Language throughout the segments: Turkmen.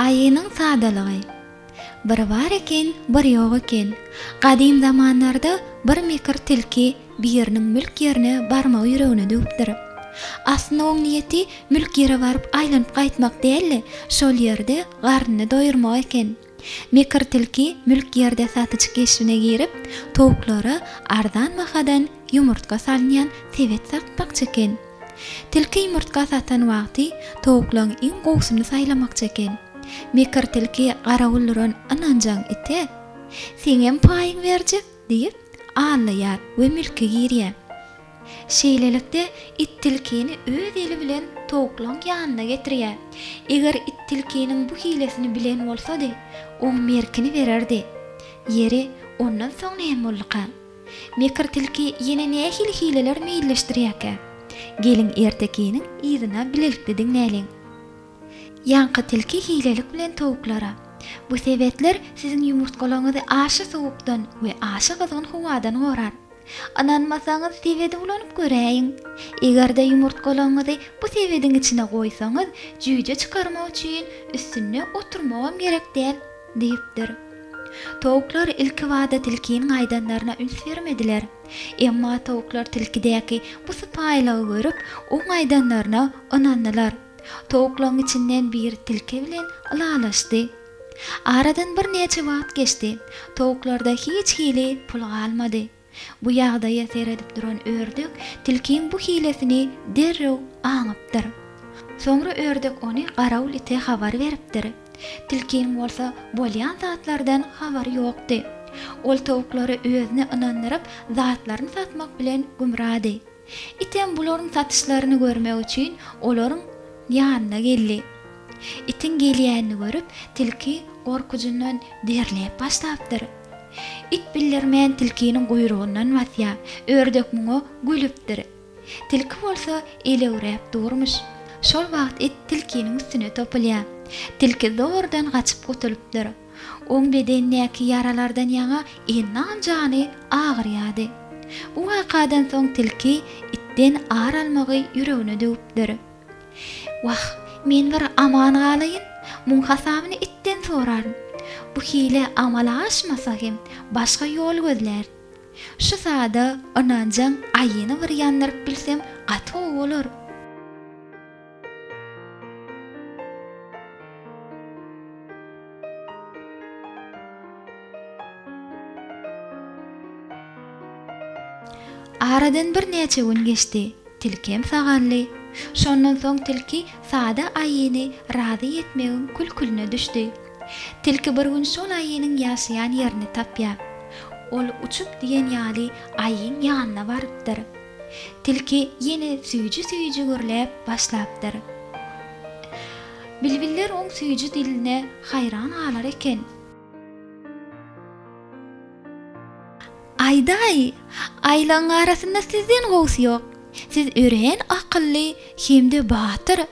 Aýynyň sadalygy. Bir bar eken, bir ýok eken. Gadym zamanlarda bir mekir tilki biriniň mülk ýerine barmagy ýüregine düwüpdir. Aslynda oň niýeti mülk ýere baryp aýlanyp gaýtmak däl-de, şol ýerde garnyny doýurmak eken. Mekir tilki mülk ýerde satyjy keşbine girip, towuklara arzan bahadan ýumurtga salynýan sebet satmakçy eken. Tilki ýumurtga satan wagty towuklaň iň gowusyny saýlamakçy eken. Mekir tilki garawul duran ynanjaň ite, Seňem paýyň berjek! diýip, allaýar we mülke girýär. Şeýlelikde, it tilkini öz eli bilen towuklaryň ýanyna getirýär. Eger it tilkiniň bu hilesini bilen bolsady, oň merkini bererdi. Ýeri, ondan soň näme bolduka? Mekir tilki ýene nähili hileler meýilleşdirýärkä? Geliň, ertekiniň yzyna bilelikde diňläliň. Ýaňky tilki hilelik bilen towuklara, Bu sebetler siziň ýumurtgalaryňyzy aşa sowukdan we aşa gyzgyn howadan gorar. Ynanmasaňyz sebedi ulanyp göräýiň. Eger-de ýumurtgalaryňyzy bu sebediň içine goýsaňyz, jüýje çykarmak üçin üstünde oturmagam gerek däl, diýipdir. Towuklar ilkibada tilkiniň aýdanlaryna üns bermediler. Emma towuklar tilkidäki bu sypaýylygy görüp, oň aýdanlaryna ynandylar. Towuklaryň içinden biri tilki bilen ylalaşdy. Aradan birnäçe wagt geçdi. Towuklarda hiç hili pul galmady. Bu ýagdaýa seredip duran ördek tilkiň bu hilesini derrew aňypdyr. Soňra ördek ony garawul ite habar beripdir. Tilkiň bolsa bolýan zatlardan habary ýokdy. Ol towuklary özüne ynandyryp, zatlaryny satmak bilen gümrady. Item bularyň satyşlaryny görmek üçin olaryň ýanyna geldi. Itiň gelýänini görüp, tilki gorkujyndan derläp başlapdyr. It bildirmän tilkiniň guýrugyndan basýar. Ördek muňa gülüpdir. Tilki bolsa elewräp durmyş. Şol wagt it tilkiniň üstüne topulýar. Tilki zordan gaçyp gutulypdyr. Oň bedenindäki ýaralardan ýaňa ennan jany agyrýardy. Bu wakadan soň tilki itden ar almagy ýüregine düwüpdir. Wah, men bir aman galaýyn, muň hasabyny itden soraryn. Bu hile amala aşmasa hem, başga ýol gözlär. Şu sada ynanjaň aýyny bir ýandyryp bilsem gaty gowy bolar. Aradan birnäçe gün geçdi. Tilkem saganly. Şondan soň tilki sada aýyny razy etmegiň kül-külüne düşdi. Tilki bir gün şol aýynyň ýaşaýan ýerini tapýar. Ol uçup diýen ýaly aýyň ýanyna barypdyr. Tilki ýene süýji-süýji gürläp başlapdyr. Bilbiller oň süýji diline haýran galar eken. Aýdaý, aýlagyň arasynda sizden gowusy ýok. Siz örän akylly hem-de batyr.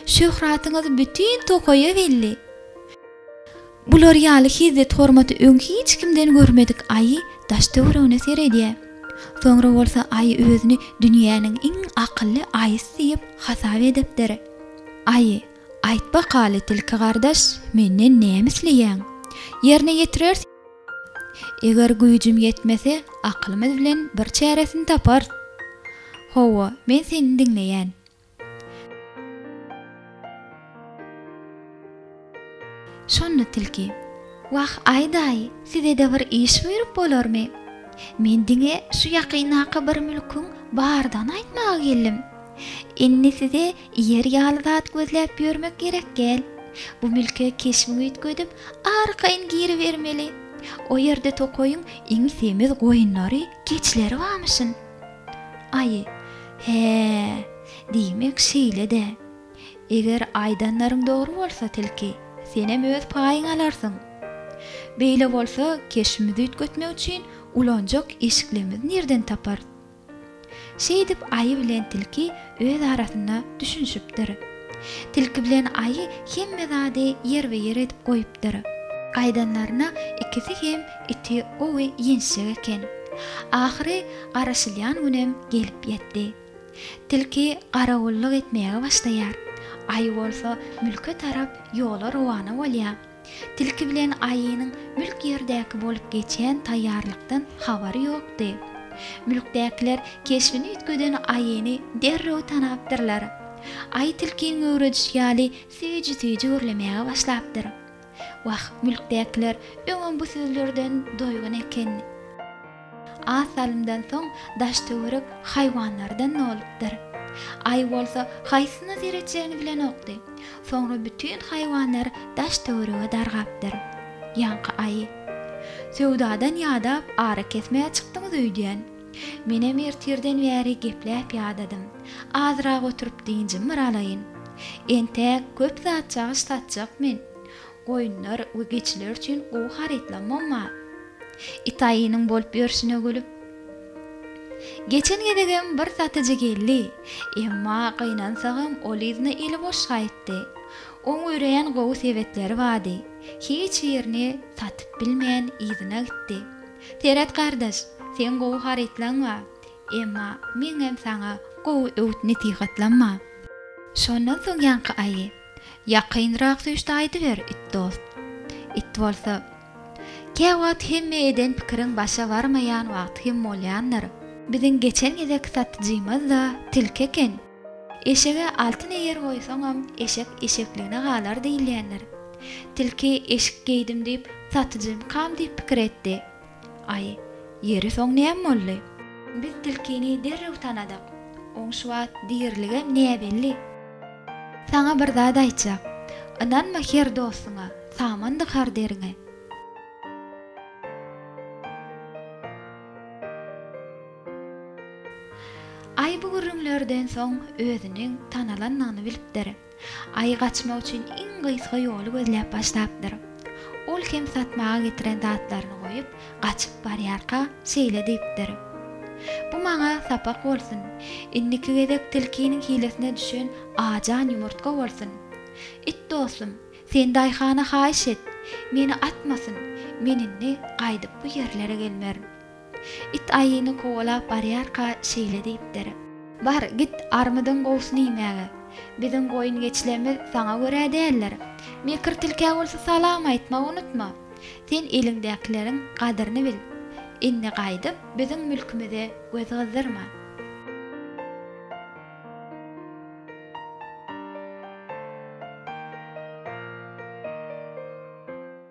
Şöhratyňyz bütin tokaýa belli. Bular ýaly hezzet-hormaty öň hiç kimden görmedik Aýy daş-töweregine seredýär. Soňra bolsa Aýy özüni dünýäniň iň akylly Aýysy diýip hasap edipdir. Aýy, Aýt bakaly, tilki gardaş, menden näme isleýäň? Ýerine ýetirers. Eger güýjüm ýetmese, akylymyz bilen bir çäresini taparys. Hawa, men seni diňleýän. Şonda tilki, Wah, Aý daýy, size-de bir iş buýrup bolarmy? Men diňe şu ýakyndaky bir mülküň bardygyny aýtmaga geldim. Indi size iýer ýaly zat gözläp ýörmek gerek gel. Bu mülke keşbiňi üýtgedip, arkaýyn giribermeli. O ýerde tokaýyň iň semiz goýunlary, keçileri bamyşyn. Aý, hä-ä, diýmek şeýle-dä. Eger aýdanlaryň dogry bolsa, tilki, senem öz paýyňy alarsyň. Beýle bolsa, keşbimizi üýtgetmek üçin ulanjak eşiklerimizi nireden taparys? Şeýdip, aýy bilen tilki öz arasynda düşünişipdir. Tilki bilen aýy hemme zady ýerbe-ýer edip goýupdyr. Aýdanlaryna ikisi hem Iti gowy ýençjek eken. Ahyry garaşylýan günem gelip ýetdi. Tilki garawullyk etmäge başlaýar. Aýy bolsa mülke tarap ýola rowana bolýar. Tilki bilen aýynyň mülk ýerdäki bolup geçen taýýarlykdan habary ýokdy. Mülkdäkiler keşbini üýtgeden aýyny derrew tanapdyrlar. Aýy tilkiň möwrejişi ýaly süýji-süýji gürlemäge başlapdyr. Wah, mülkdäkiler öňem bu sözlerden doýgun ekenni. Az salymdan soň daş-töwerek haýwanlardan dolupdyr. Aý bolsa haýsysyna seretjegini bilenokdy. Soňra bütin haýwanlar daş-töwerege dargapdyr. Ýaňky aýy. Söwdadan ýadap, ara kesmäge çykdyňyz öýdýän. Menem ertirden bäri gepläp ýadadym. Azrak oturyp dynjym bir alaýyn. Entäk köp zat cagyş satjak men. Goýunlar we geçiler üçin gowy harytlamam bar. Itaýynyň bolup ýörşüne gülüp. Geçen gezegem bir satyjy geldi. Emma gynansagam ol yzyna eli boş gaýtdy. Oň örän gowy sebetleri bardy. Hiç birini satyp bilmän yzyna gitdi. Seret gardaş, seň gowy harytlaň bar, emma meňem saňa gowy öwüt-nesihatlam bar. Şondan soň ýaňky aýy ýakynrak süýşde aýdyber, it dost. It bolsa, Käwagt hemme eden pikiriň başa barmaýan wagty hem bolýandyr. Biziň geçen gezek satyjymyz-da tilki eken. Eşege altyn eger goýsaňam, eşek eşekligine galar diýilýändir. Tilki eşik geýdim diýip, satyjymykam diýip pikir etdi. Aý, ýeri soň näme boldy? Biz tilkini derrew tanadyk. Oň şu wagt diriligem näbelli. Saňa bir zat aýtjak. Ynanma her dostuňa, saman dykar deriňe. Aý bu gürrüňlerden soň özüniň tanalandygyny bilipdir. Aý gaçmak üçin iň gysga ýoly gözläp başlapdyr. Ol kem satmaga getiren zatlaryny goýup, gaçyp barýarka, şeýle diýipdir, Bu maňa sapak bolsun. Indiki gezek tilkiniň hilesine düşen ajan ýumurtga bolsun. It dostum, sen daýhana haýyş et, meni atmasyn, men indi gaýdyp bu ýerlere gelmerin. It aýyny kowalap barýarka şeýle diýipdir. Bar, git, armydyň gowusyny iýmäge. Biziň goýun-geçilerimiz saňa görä däldir. Mekir tilkä bolsa salam aýtmagy unutma. Sen eliňdäkileriň gadyryny bil. Indi gaýdyp, biziň mülkümize göz gyzdyrma.